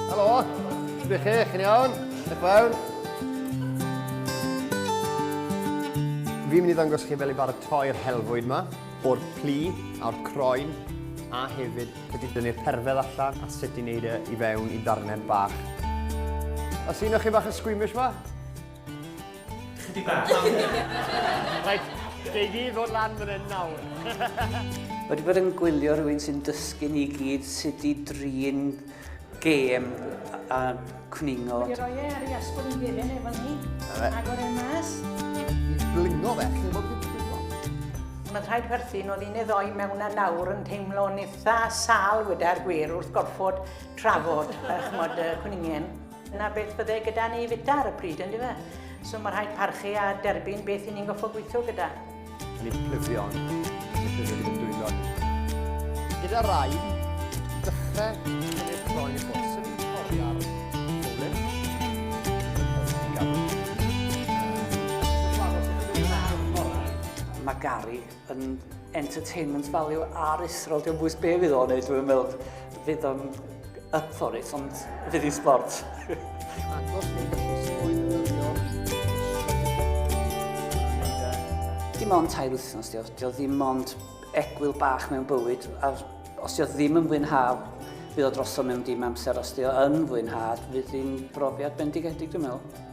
Helo, sbych chi, chi'n iawn? Diolch fawr. Fi'n mynd i ddangos chi fel i baratoi'r helfwyd yma, o'r plu a'r croen, a hefyd sut i dynnu'r perfedd allan a sut i wneud e i fewn i ddarnau bach. Os un o'ch chi bach yn squeamish fa? Chydig bach. Rhaid, gei di ddod lan fan hyn nawr. Wedi bod yn gwylio rhywun sy'n dysgu ni gyd sut i drin gêm a cwningo. Wedi roi e ar ei asgwrn i geren efo ni. Agor e mas. Blingo fe, lle bod fi'n blingo. Mae'n rhaid perthyn oedd un eddoi mewn a nawr yn teimlo'n eitha sal weda'r gwir wrth gorfod trafod chymod, cwningen. Dyna beth fydde gyda ni fita ar y pryd, yn dyfe? So mae rhaid parchu a derbyn beth i ni'n goffo gweithio gyda. Ni plyddion, sydd wedi mynd dwylo. Gyda rai, dechrau cynnig croen i ffwrdd. Mae Gary yn entertainment value ar Israel, dwi'n bwys be fydd o'n ei, dwi'n meddwl fydd o'n up for it, ond fydd i'n sport. Dim ond tair wythnos, dio, dio ddim ond egwyl bach mewn bywyd, a os dio ddim yn fwynhaf, fydd o drosodd mewn dim amser, os dio yn fwynhad, fydd hi'n brofiad bendigedig, dwi'n meddwl.